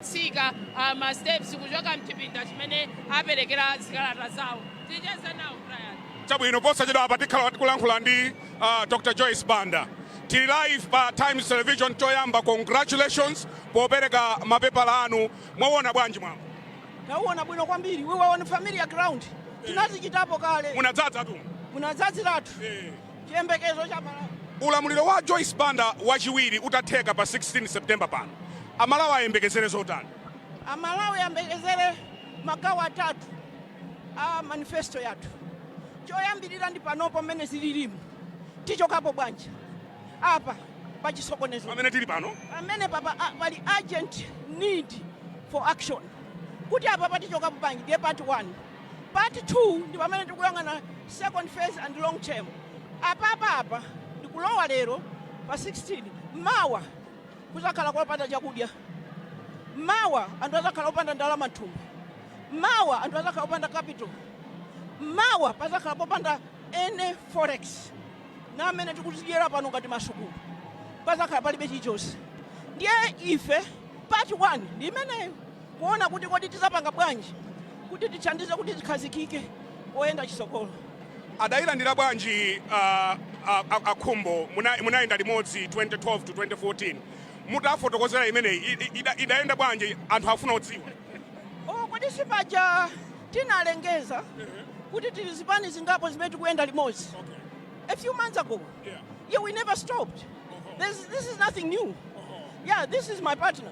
tsika uh, ma steps kuchoka mchipinda chimene aperekera zikalata zawo ticheze nawo brian chabwino posachedwa apa tikhala kulankhula ndi uh, dr joyce banda tili live pa times television choyamba congratulations popereka mapepala anu mwawona bwanji mwambo tawuwona bwino kwambiri we were on familiar ground tinazichitapo kale munadzadza tu munadzadziratu eh. Chiyembekezo cha Malawi. Ulamuliro wa Joyce Banda wachiwiri utatheka pa 16 September pano, Amalawi ayembekezere zotani? Amalawi ayembekezere magawo atatu a manifesto yathu. Choyambirira ndi panopo mmene zililimu, tichokapo bwanji apa pa chisokonezo Pamene tili pano, pamene papa a- pali urgent need for action kuti apapa tichokapo bwanji ndiye part one Part 2 ndi pamene tikuyang'ana second phase and long term. Apapapa ndikulowa lero pa 16, mawa kuzakhala kopanda chakudya, mawa anthu azakhala opanda ndalama mthumba, mawa anthu azakhala opanda capital, mawa pazakhala popanda any forex na amene tikuzidyera pano ngati masukulu pazakhala palibe chilichonse. Ndiye ife part 1 ndi imeneyo. kuona kuti kodi tizapanga bwanji kuti tithandize kuti zikhazikike poyenda chitsogolo. Adayilandira bwanji a a a a Khumbo munayenda limodzi 2012 to 2014 mutafotokozera imeneyi i- i- ida- idayenda bwanji anthu afuna adziwe. Oh, kodi sipaja tinalengeza kuti tili zipani zingapo zimene tikuyenda limodzi a few months ago Yeah. yeah we never stopped this, this is nothing new yeah this is my partner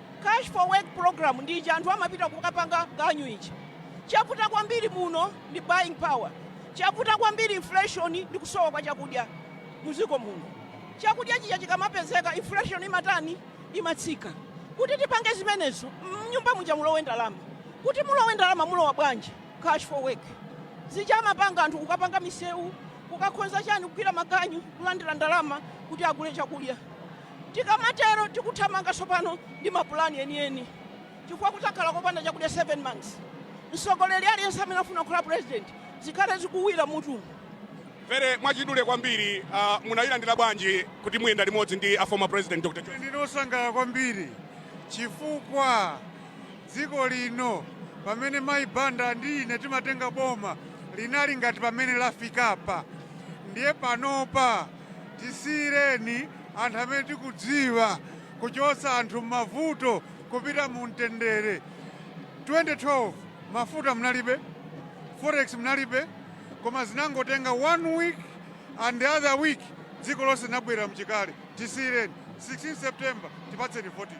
Cash for work program ndi ija anthu amapita kukapanga ganyu ija. Chavuta kwambiri muno ndi buying power. Chavuta kwambiri inflation ndi kusowa kwa chakudya muziko muno. Chakudya chija chikamapezeka inflation imatani imatsika. Kuti tipange zimenezo mnyumba muja mulowe ndalama. Kuti mulowe ndalama mulowa bwanji cash for work. Zija amapanga anthu kukapanga misewu kukakonza chani kugwira maganyu kulandira ndalama kuti agule chakudya. Tikamatero tikuthamanga tsopano ndi mapulani enieni chifukwa kudzakhala kopanda chakudya 7 months. Mtsogoleri aliyense amene akufuna kukhala president zikhale zikuwira mutu. Very mwachidule kwambiri uh, munayilandira bwanji kuti muyenda limodzi ndi a former president Dr. Joyce? Ndine osangalala kwambiri chifukwa dziko lino pamene mayi Banda ndi ine timatenga boma linali ngati pamene lafikapa ndiye panopa Tisiyireni anthu amene tikudziwa kuchotsa anthu mmavuto kupita mu mtendere. 2012 mafuta munalibe, forex munalibe, koma zinangotenga one week and the other week dziko lonse linabwerera mchikale. Tisiyireni 16 September tipatseni votiyo.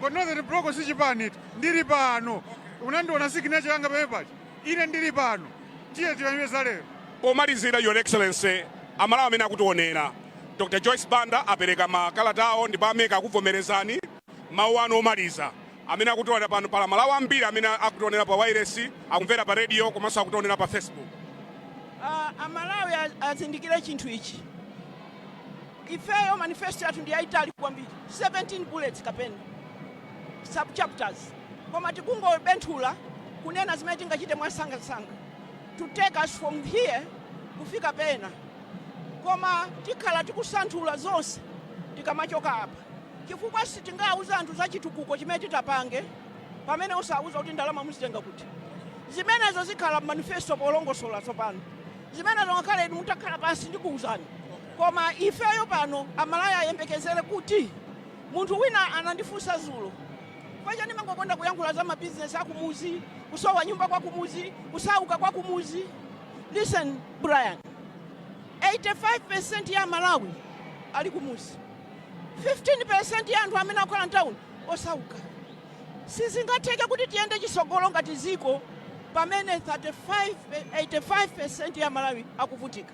But Northern Block si chipani ichi. Ndili pano. Unandiona signature yanga pamene paja. Ine ndili pano. Tiyeni tiyankhule za lero. Pomalizira, Your Excellency, Amalawi amene akutionera, Dr. Joyce Banda apereka makalata awo ndipo a MEC akuvomerezani. Mawu anu omaliza amene akutionera pano, pali Amalawi ambiri amene akutionera pa wailesi, akumvera pa radio komanso akutionera pa Facebook. Ah, amalawi a- azindikire chinthu ichi Ifeyo manifesto yathu ndi yaitali kwambiri 17 bullets kapena sub chapters koma tikungobenthula kunena zimene tingachite mwansangansanga to take us from here kufika pena koma tikhala tikusanthula zonse tikamachoka apa chifukwa sitingauze anthu za chitukuko chimene titapange pamene usanawauze kuti ndalama muzitenga kuti. Zimenezo zikhala mmanifesto polongosola tsopano. Zimenezo ngakhale inu mutakhala pansi ndikuuzani. Koma ifeyo pano amalawi ayembekezele kuti, munthu wina anandifunsa zulo chifukwa chani ndimangokonda kuyankhula za ma business akumuzi, kusowa nyumba kwakumuzi, kusauka kwakumuzi. Listen Brian, 85% ya amalawi ali kumuzi, 15% ya anthu amene akukhala mtauni osauka. Sizingatheke kuti tiyende chisogolo ngati ziko pamene 85% ya amalawi akuvutika.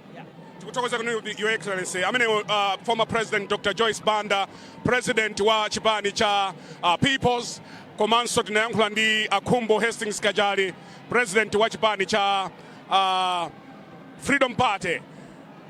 Tikuthokozani Your Excellency. Amenewo uh, former president Dr. Joyce Banda, president wa chipani cha uh, Peoples komanso tinayankhula ndi a Khumbo Hastings Kachali, president wa chipani cha uh, Freedom Party.